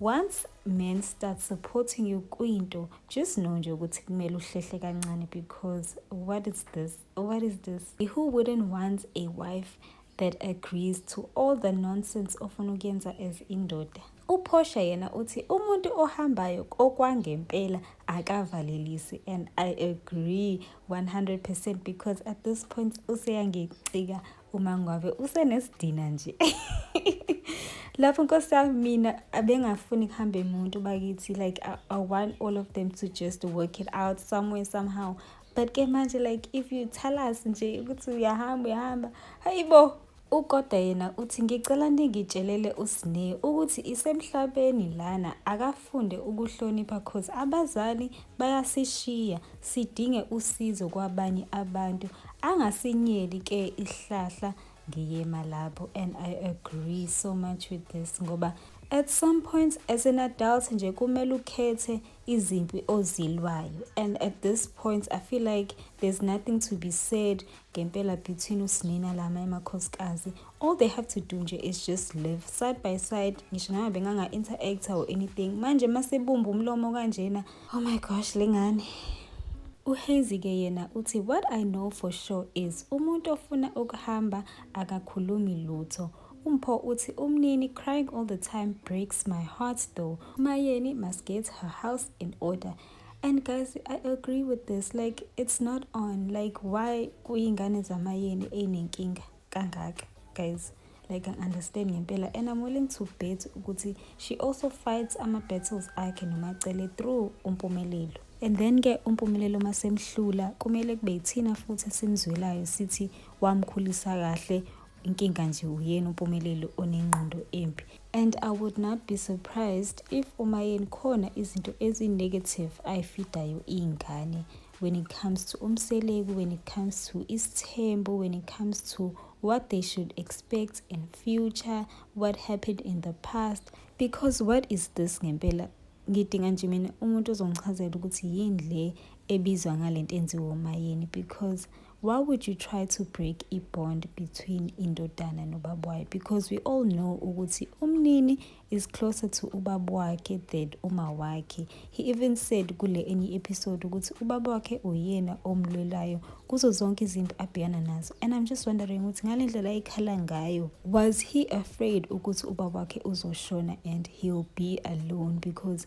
Once men start supporting you kwinto just know nje ukuthi kumele uhlehle kancane because what is this what is this who wouldn't want a wife that agrees to all the nonsense ofuna ukuyenza as indoda uphosha yena uthi umuntu ohambayo okwangempela akavalelisi and i agree 100 percent because at this point useyangicika umangwabe usenesidina nje lapho nkosi yami mina abengafuni kuhambe umuntu bakithi like I, I want all of them to just work it out somewhere somehow but ke manje like if you tell us nje ukuthi uyahamba uyahamba hayi bo ukoda yena uthi ngicela ningitshelele usine ukuthi isemhlabeni lana akafunde ukuhlonipha cause abazali bayasishiya sidinge usizo kwabanye abantu angasinyeli ke ihlahla ngiyema lapho and i agree so much with this ngoba at some point as an adult nje kumele ukhethe izimpi ozilwayo and at this point i feel like there's nothing to be said ngempela between usinina lama emakhosikazi all they have to do nje is just live side by side ngisho noma benganga-interacta or anything manje masebumba umlomo kanjena Oh my gosh lengane. Uhazy ke yena uthi what I know for sure is umuntu ofuna ukuhamba akakhulumi lutho. Umpho uthi umnini crying all the time breaks my heart though. Mayeni must get her house in order. And guys, I agree with this. Like it's not on. Like why kuyingane zamayeni enenkinga? kangaka guys like I understand ngempela and I'm willing to bet ukuthi she also fights ama battles akhe nomacele through umpumelelo and then ke umpumelelo masemhlula kumele kube yithina futhi esimzwelayo sithi wamkhulisa kahle inkinga nje uyena umpumelelo onengqondo embi and i would not be surprised if umayeni khona izinto ezi-negative ayifidayo iy'ngane when it comes to umseleku when it comes to isithembu when it comes to what they should expect in future what happened in the past because what is this ngempela ngidinga nje mina umuntu ozongichazela ukuthi yini le ebizwa ngale nto enziwa umayeni because Why would you try to break a bond between indodana nobaba wayo? Because we all know ukuthi umnini is closer to ubaba wakhe than uma wakhe. He even said kule enye episode ukuthi ubaba wakhe uyena omlwelayo kuzo zonke izinto abhekana nazo. And I'm just wondering ukuthi ngale ndlela ayikhala ngayo, was he afraid ukuthi ubaba wakhe uzoshona and he'll be alone because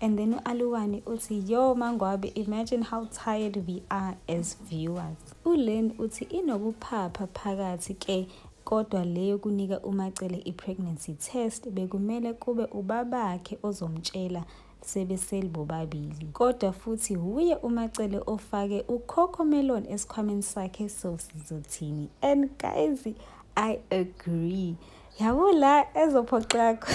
And then uAluwani uthi yo mangwabe imagine how tired we are as viewers. ULen uthi inokuphapha phakathi ke kodwa leyo kunika uMacele i-pregnancy test bekumele kube ubabakhe ozomtshela sebeseli bobabili kodwa futhi wuye uMacele ofake uCoco Melon esikhwameni sakhe so sizothini and guys I agree yabo la ezophoxakho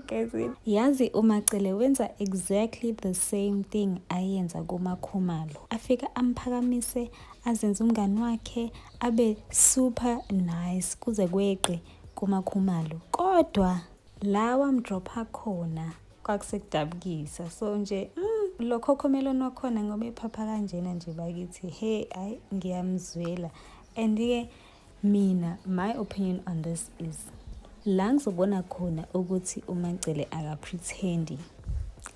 gezini yazi umacele wenza exactly the same thing ayenza kumakhumalo afika amphakamise azenze umngani wakhe abe super nice kuze kweqe kumakhumalo kodwa la wamdropha khona kwakusekudabukisa so nje mm, lo khokhomeloni wakhona ngoba ephapha kanjena nje bakithi he ayi ngiyamzwela and-ke Mina my opinion on this is la ngizobona khona ukuthi uMancele akaprethendi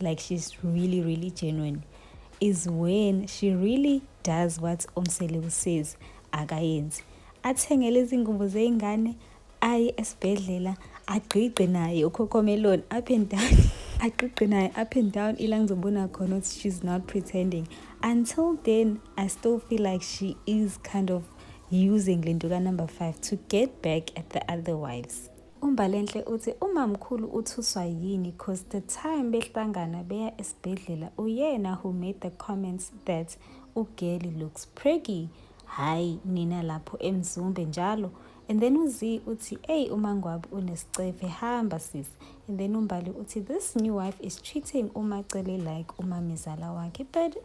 like she's really really genuine is when she really does what umsele usays akayenzi athengele izingubo zey'ngane aye esibhedlela agqigqe naye ukhokhomeloni up and down agqigqe naye up and down ila ngizobona khona ukuthi she's not pretending until then i still feel like she is kind of using le nto kanumber 5 to get back at the other wives umbalenhle uthi umamkhulu uthuswa yini cause the time behlangana beya esibhedlela uyena who made the comments that ugeli looks preggy hhayi nina lapho emzumbe njalo and then uzi uthi eyi umangwabi unesicefe hamba sis and then umbali uthi this new wife is treating umacele like umamezala wakhe but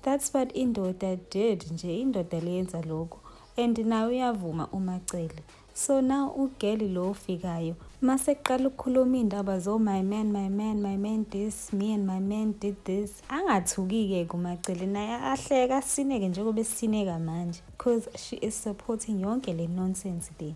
That's what indoda did nje indoda leyenza lokho and naye uyavuma uMacele. So now ugeli lo ofikayo mase kuqala ukukhuluma indaba zo my man my man my man this me and my man did this angathukike kuMacele naye ahleka asineke njengoba esineka manje because she is supporting yonke le nonsense le.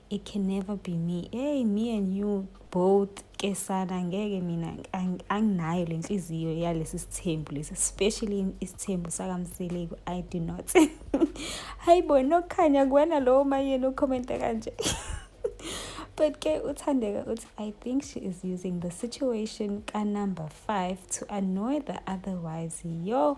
it can never be me hey me and you both ke sana ngeke mina anginayo le nhliziyo yalesi sithembu lesi especially isithembu sakamseleku i do not hayi bo nokukhanya kuwena lowo mayeni ukhomenta kanje but ke uthandeka uthi i think she is using the situation ka-number five to annoy the other wives yo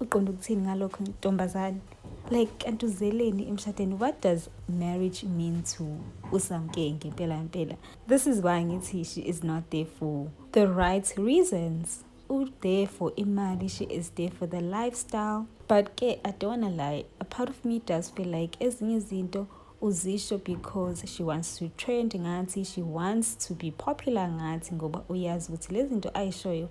uqonda ukuthini ngalokho ntombazane like kanti uzeleni emshadweni what does marriage mean to usamkenge ngempela ngempela this is why ngithi she is not there for the right reasons u-there for imali she is there for the lifestyle but ke i don't wanna lie a part of me does feel like ezinye izinto uzisho because she wants to trend ngathi she wants to be popular ngathi ngoba uyazi ukuthi lezi zinto ayishoyo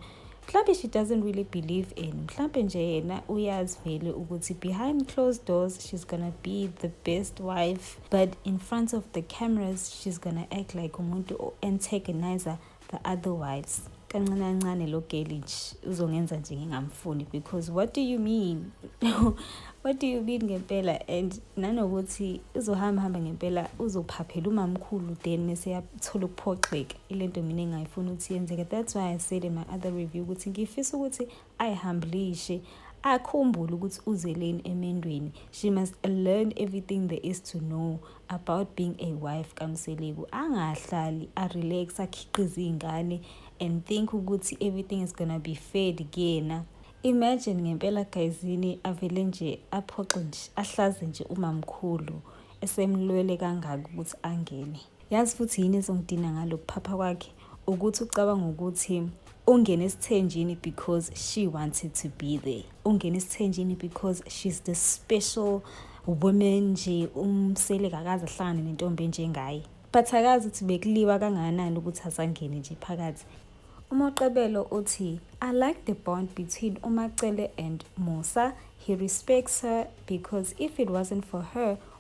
mhlawumbe she doesn't really believe in mhlawumbe nje yena uyazi vele ukuthi behind closed doors she's gonna be the best wife but in front of the cameras she's gonna act like umuntu o-antagonizer the other wives kancane kancane lo geli uzongenza nje ngingamfuni because what do you mean what do you mean ngempela and nanokuthi uzohamba hamba ngempela uzophaphela umamkhulu then mese yathola ukuphoxeka ile nto mina engayifuni ukuthi yenzeke that's why i said in my other review ukuthi ngifisa ukuthi I humblishi akhumbule ukuthi uzeleni emendweni she must learn everything there is to know about being a wife kamseleku angahlali arelax akhiqize iy'ngane and think ukuthi everything is gonna be fed kuyena imagine ngempela gayizini avele nje aphoxe nje ahlaze nje umamkhulu esemlwele kangaka ukuthi angene Yazi futhi yini ezongidina ngalokuphapha kwakhe ukuthi ucabanga ukuthi ungene esithenjini because she wanted to be there ungene esithenjini because she's the special woman nje umsele kakaze ahlangane nentombi enjengaye but akazi ukuthi bekuliwa kangakanani ukuthi asangene nje phakathi umoqebelo uthi i like the bond between umacele and musa he respects her because if it wasn't for her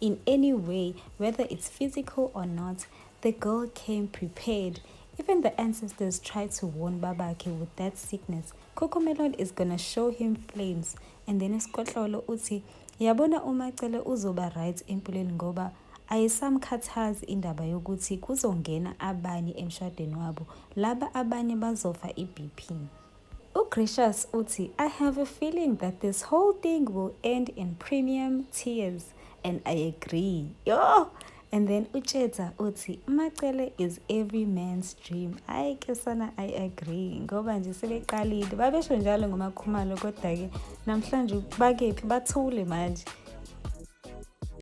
in any way, whether it's physical or not, the girl came prepared. Even the ancestors tried to warn Babake with that sickness. Cocomelon is gonna show him flames. And then Skotlolo uthi, yabona umacele uzoba right empilweni ngoba ayisamkhathazi indaba yokuthi kuzongena abanye emshadweni wabo laba abanye bazofa i-bp UGracious uthi, I have a feeling that this whole thing will end in premium tears and I agree. Yho! And then uTshetsa uthi, uMacele is every man's dream. Ayi ke sana I agree ngoba nje sebeqalile. Babesho njalo ngoMakhumalo kodwa-ke namhlanje bakephi bathule manje.